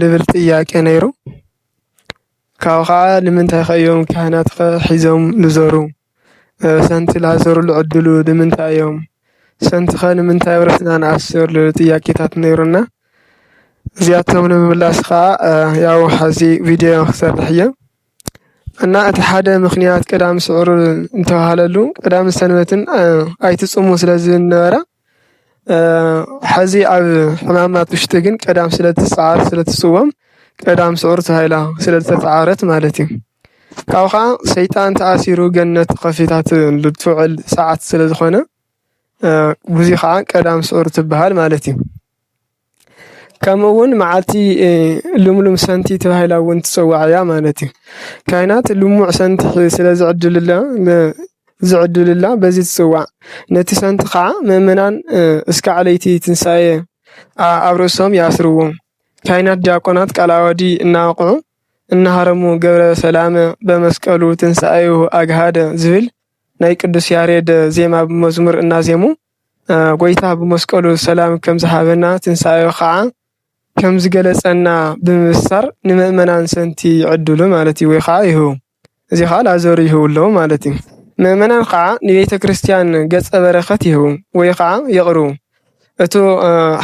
ልብል ጥያቄ ነይሩ። ካብኡ ኸዓ ንምንታይ ከ እዮም ካህናት ከ ሒዞም ልዞሩ? ሰንቲ ላዞሩሉ ዕድሉ ንምንታይ እዮም? ሰንቲ ከ ንምንታይ ኣብ ርእስና ንኣስር? ልብል ጥያቄታት ነይሩና። እዚኣቶም ንምምላስ ኸዓ ያው ሐዚ ቪድዮ ክሰርሕ እየ። እና እቲ ሓደ ምኽንያት ቀዳም ስዑር ዝተብሃለሉ ቀዳምን ሰንበትን ኣይትፁሙ ስለ ዝብል ነበረ። ሐዚ ኣብ ሕማማት ውሽጢ ግን ቀዳም ስለትስዓር ስለትስወም ቀዳም ስዑር ተባሂላ ስለዝተስዓረት ማለት እዩ። ካብኡ ከዓ ሰይጣን ተኣሲሩ ገነት ከፊታትሉ እትውዕል ሰዓት ስለዝኾነ በዙይ ከዓ ቀዳም ስዑር ትብሃል ማለት እዩ። ከምኡ እውን መዓልቲ ልምሉም ሰንቲ ተባሂላ እውን ትፅዋዕ እያ ማለት እዩ። ካይናት ልሙዕ ሰንቲ ስለ ዝዕድልላ ዝዕድልላ በዚ ትፅዋዕ። ነቲ ሰንቲ ኸዓ መእመናን እስካዕ ለይቲ ትንሳኤ ኣብ ርእሶም ይኣስርዎ። ካይናት ዲያቆናት ቃል ዓዋዲ እናወቕዑ እናሃረሙ ገብረ ሰላመ በመስቀሉ ትንሳኤሁ ኣግሃደ ዝብል ናይ ቅዱስ ያሬድ ዜማ ብመዝሙር እናዜሙ። ጎይታ ብመስቀሉ ሰላም ከም ዝሃበና ትንሳኤኡ ካዓ ከም ዝገለፀና ብምብሳር ንመእመናን ሰንቲ ይዕድሉ ማለት እዩ። ወይ ካዓ ይህቡ እዚ ካዓ ላዘሩ ይህብሎም ማለት እዩ። መእመናን ካዓ ንቤተክርስትያን ገፀ በረከት ይህቡ ወይ ካዓ የቅርቡ። እቱ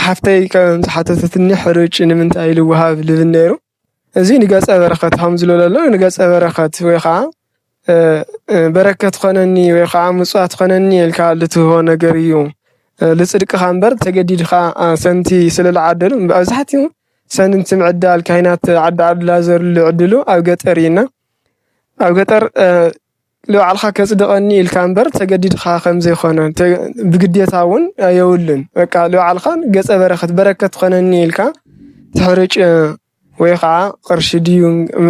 ሓፍተይ ከም ዝሓተተትኒ ሕሩጭ ንምንታይ ኢሉ ይወሃብ ልብል ነይሩ? እዚ ንገፀ በረከት ሃም ዝሎ ለሎ ንገፀ በረከት ወይ ኸዓ በረከት ኾነኒ ወይ ኸዓ ምፅዋት ኾነኒ ኢልካ ልትህቦ ነገር እዩ። ልፅድቅኻ እምበር ተገዲድኻ ሰንቲ ስለ ልዓደሉ ብኣብዛሕትኡ ሰንቲ ምዕዳል ካይናት ዓዲ ዓድላ ዘርሉ ዕድሉ ኣብ ገጠር እዩ እና ኣብ ገጠር ንባዕልኻ ከጽድቐኒ ኢልካ እምበር ተገዲድኻ ከም ዘይኮነ ብግዴታ እውን የብሉን በቃ ንባዕልኻ ገጸ በረከት በረከት ትኾነኒ ኢልካ ትሕርጭ ወይ ኸዓ ቅርሺ ድዩ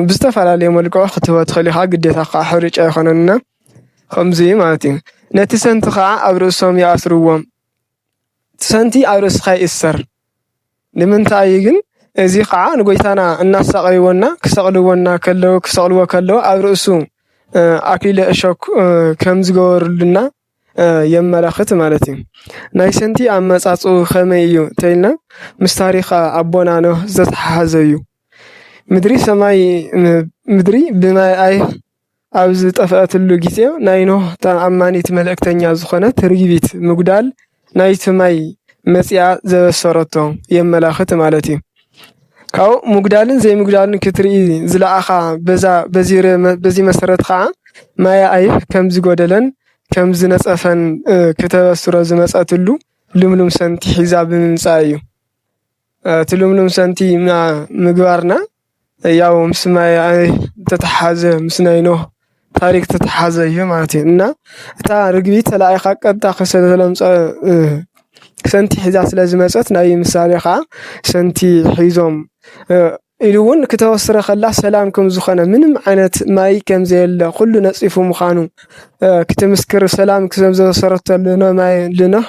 ብዝተፈላለዩ መልክዑ ክትህቦ ትኽእል ኢኻ ግዴታ ከዓ ሕርጭ ኣይኮነን እና ከምዚ ማለት እዩ ነቲ ሰንቲ ኸዓ ኣብ ርእሶም ይኣስርዎም እቲ ሰንቲ ኣብ ርእስኻ ይእሰር። ንምንታይ እዩ ግን እዚ ኸኣ ንጎይታና እናሳቀይዎና ክሰቅልዎና ከለዉ ክሰቅልዎ ከለዉ ኣብ ርእሱ ኣክሊለ እሾክ ከም ዝገበሩልና የመላኽት ማለት እዩ። ናይ ሰንቲ ኣመጻጽኡ ከመይ እዩ ተይልና ምስ ታሪኽ ኣቦና ኖህ ዘተሓሓዘ እዩ። ምድሪ ሰማይ ምድሪ ብማይ ኣይ ኣብ ዝጠፍኣትሉ ግዜ ናይ ኖህ ተኣማኒት መልእክተኛ ዝኾነት ርግቢት ምጉዳል ናይቲ ማይ መጺኣ ዘበሰረቶ የመላኽት ማለት እዩ። ካብኡ ምጉዳልን ዘይምጉዳልን ክትርኢ ዝለኣኻ በዛ በዚ መሰረት ኸኣ ማይ ኣይህ ከም ዝጎደለን ከም ዝነጸፈን ክተበስሮ ዝመጸትሉ ልምሉም ሰንቲ ሒዛ ብምምጻእ እዩ። እቲ ልምሉም ሰንቲ ምግባርና ያው ምስ ማይ ዝተተሓሓዘ ምስ ናይ ኖህ ታሪኽ ዝተተሓሓዘ እዩ ማለት እዩ። እና እታ ርግቢ ተላኢኻ ቀጥታ ስለዝተለምጸ ሰንቲ ሒዛ ስለዝመጸት ናይ ምሳሌ ኸኣ ሰንቲ ሒዞም ኢሉ እውን ክተበስረ ከላ ሰላም ከምዝኾነ ምንም ዓይነት ማይ ከምዘየለ ኩሉ ነጺፉ ምዃኑ ክትምስክር ሰላም ስለዘበሰረቶ ንኖህ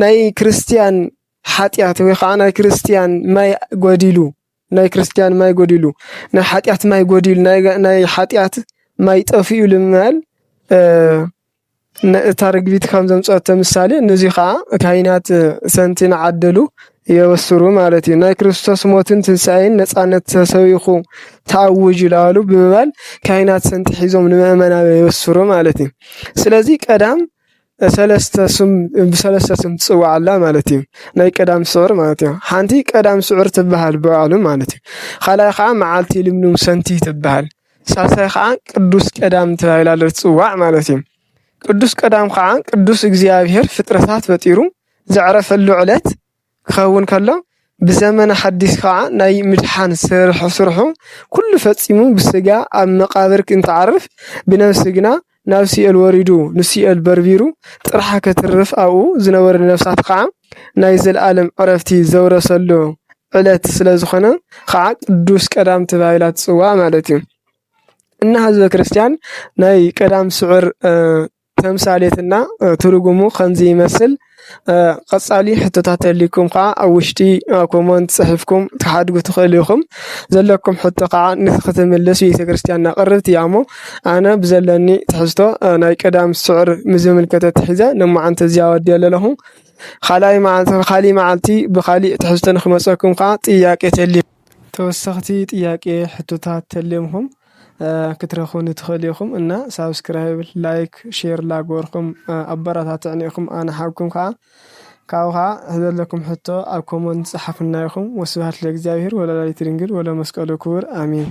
ናይ ክርስትያን ሓጢኣት ወይ ኸዓ ናይ ክርስትያን ማይ ጎዲሉ ናይ ክርስትያን ማይ ጎዲሉ ናይ ሓጢኣት ማይ ጎዲሉ ናይ ሓጢኣት ማይ ጠፊኡ ልምል ነእታ ርግቢት ከም ዘምጸኦቶ ምሳሌ ነዙይ ኸዓ ካይናት ሰንቲ ንዓደሉ የበስሩ ማለት እዩ ናይ ክርስቶስ ሞትን ትንሣኤን ነጻነት ተሰቢኹ ተኣውጁ ለበሉ ብምባል ካይናት ሰንቲ ኂዞም ንመእመና የበስሩ ማለት እዩ ስለዙይ ቀዳም ሰለስተ ስም ብሰለስተ ስም ትጽዋዕ ኣላ ማለት እዩ። ናይ ቀዳም ስዑር ማለት እዩ። ሓንቲ ቀዳም ስዑር ትበሃል ብባዕሉ ማለት እዩ። ካልኣይ ከዓ መዓልቲ ልምሉም ሰንቲ ትበሃል። ሳልሳይ ከዓ ቅዱስ ቀዳም ተባሂላ ትጽዋዕ ማለት እዩ። ቅዱስ ቀዳም ከዓ ቅዱስ እግዚኣብሔር ፍጥረታት ፈጢሩ ዘዕረፈሉ ዕለት። ክኸውን ከሎ ብዘመነ ሓዲስ ኸኣ ናይ ምድሓን ስርሑ ስርሑ ኩሉ ፈጺሙ ብስጋ ኣብ መቃብር እንትዓርፍ ብነብሲ ግና ናብ ሲኦል ወሪዱ ንሲኦል በርቢሩ ጥርሓ ከትርፍ ኣብኡ ዝነበሩ ነፍሳት ኸኣ ናይ ዘልኣለም ዕረፍቲ ዘውረሰሉ ዕለት ስለ ዝኾነ ኸኣ ቅዱስ ቀዳም ተባሂላ ትጽዋዕ ማለት እዩ። እና ህዝበ ክርስቲያን ናይ ቀዳም ስዑር ተምሳሌትና ትርጉሙ ከምዚ ይመስል። ቐጻሊ ሕቶታት ተልይኩም ከኣ ኣብ ውሽጢ ኮሞንት ጽሒፍኩም ክትሓድጉ ትኽእሉ ኢኹም። ዘለኩም ሕቶ ከኣ ንክትምልስ ቤተክርስትያንና ቅርብቲ እያ እሞ ኣነ ብዘለኒ ትሕዝቶ ናይ ቀዳም ስዑር ምዝምልከተ ትሒዘ ሎማዓንቲ እዚኣ ወዲኤ ለለኹ። ካልኣይ መዓልቲ ብካሊእ መዓልቲ ብካሊእ ትሕዝቶ ንክመጸኩም ከኣ ጥያቄ ተልይኩም። ተወሰኽቲ ጥያቄ ሕቶታት ተልዮምኹም ክትረኽቡኒ ትኽእሉ ኢኹም እና ሳብስክራይብ ላይክ ሼር ላግበርኩም ኣበረታትዕኒ ኢኹም ኣነ ሓውኩም ከኣ ካብኡ ከኣ ዘለኩም ሕቶ ኣብ ኮሞንት ጸሓፉልና ኢኹም ወስብሃት ለእግዚኣብሄር ወለወላዲቱ ድንግል ወለመስቀሉ ክቡር ኣሜን።